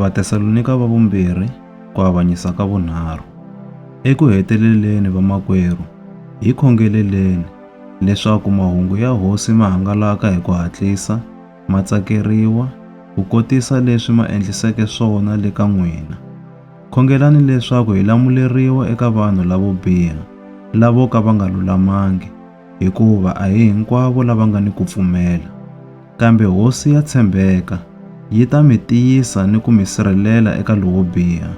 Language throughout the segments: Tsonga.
Vatesalonika va vumbirhi ku avanyisa ka vunharhu. Eku heteleleni vamakwerhu, hi khongeleleni leswaku mahungu ya Hosi ma hangalaka hi ku hatlisa, ma tsakeriwa, ku kotisa leswi ma endliseke swona le ka n'wina. Khongelani leswaku hi lamuleriwa eka vanhu lavo biha, lavo ka va nga lulamangi, hikuva a hi hinkwavo lava nga ni ku pfumela. Kambe Hosi ya tshembeka yi ta mi tiyisa ni ku mi sirhelela eka lowo biha.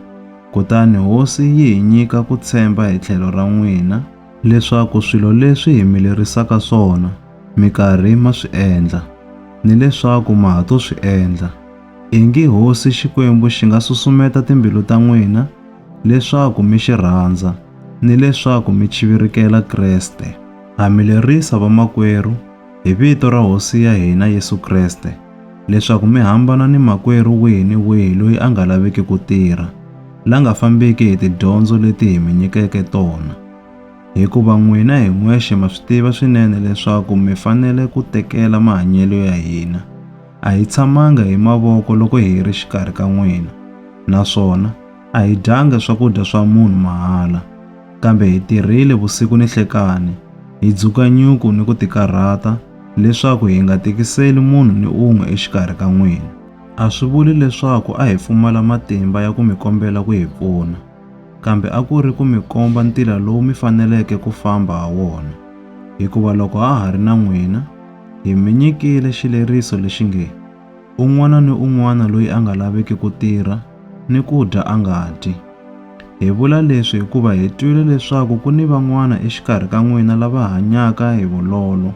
Kutani Hosi yi hi nyika ku tshemba hi tlhelo ra n'wina, leswaku swilo leswi hi mi lerisaka swona mi karhi ma swi endla ni leswaku ma ha to swi endla, ingi Hosi Xikwembu xi nga susumeta timbilu ta n'wina leswaku mi xi rhandza ni leswaku mi chivirikela Kreste. Ha mi lerisa vamakwerhu hi vito ra Hosi ya hina Yesu Kreste leswaku mi hambana ni makwerhu wihi ni wihi loyi a nga laviki ku tirha, la nga fambiki hi tidyondzo leti hi mi nyikeke tona. Hikuva n'wina hi n'wexe ma swi tiva swinene leswaku mi fanele ku tekela mahanyelo ya hina. A hi tshamanga hi mavoko loko hi ri xikarhi ka n'wina, naswona A hi dyangi swakudya swa munhu mahala, kambe hi tirhile vusiku ni nhlekani, hi dzuka nyuku ni ku tikarhata, leswaku hi nga tikiseli munhu ni un'we exikarhi ka n'wina. A swi vuli leswaku a hi pfumala matimba ya ku mi kombela ku hi pfuna, kambe a ku ri ku mi komba ntila lowu mi faneleke ku famba ha wona. Hikuva loko ha ha ri na n'wina, hi mi nyikile xileriso lexi nge, Un'wana ni un'wana loyi a nga laviki ku tirha ni ku dya a nga dyi. Hi vula leswi hikuva hi twile leswaku ku ni van'wana exikarhi ka n'wina lava hanyaka hi vulolo,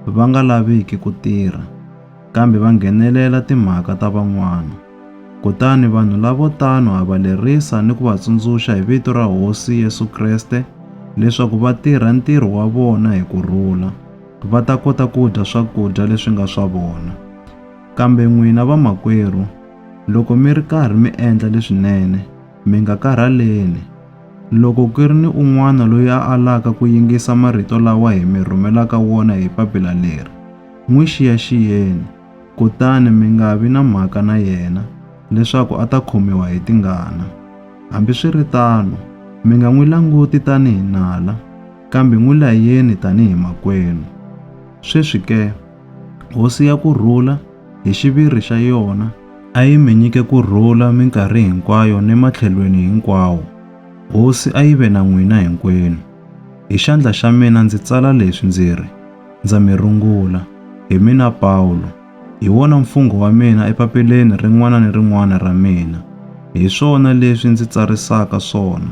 va nga laviki ku tirha, kambe va nghenelela timhaka ta van'wana. Kutani vanhu lavo tano ha va lerisa ni ku va tsundzuxa hi vito ra Hosi Yesu Kreste leswaku va tirha ntirho wa vona hi ku rhula. va ta kota ku dya swakudya leswi nga swa vona. Kambe n'wina vamakwerhu, loko mi ri karhi mi endla leswinene, mi nga karhaleni. Loko ku ri ni un'wana loyi a alaka ku yingisa marito lawa hi mi rhumelaka wona hi papila leri, n'wi xiyaxiyeni, kutani mi nga vi na mhaka na yena, leswaku a ta khomiwa hi tingana. Hambiswiritano, mi nga n'wi languti tanihi nala. kambe n'wi layeni tanihi makwenu. Sweswi ke, hosi ya ku rhula, hi xiviri xa yona, a yi mi nyike ku rhula minkarhi hinkwayo ni matlhelweni hinkwawo. Hosi a yi ve na n'wina hinkwenu. Hi xandla xa mina ndzi tsala leswi ndzi ri, Ndza mi rungula, hi mina Pawulo. Hi wona mfungho wa mina epapileni rin'wana ni rin'wana ra mina. Hi swona leswi ndzi tsarisaka swona.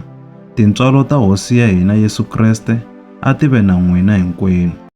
Tintswalo ta Hosi ya hina Yesu Kreste a ti ve na n'wina hinkwenu.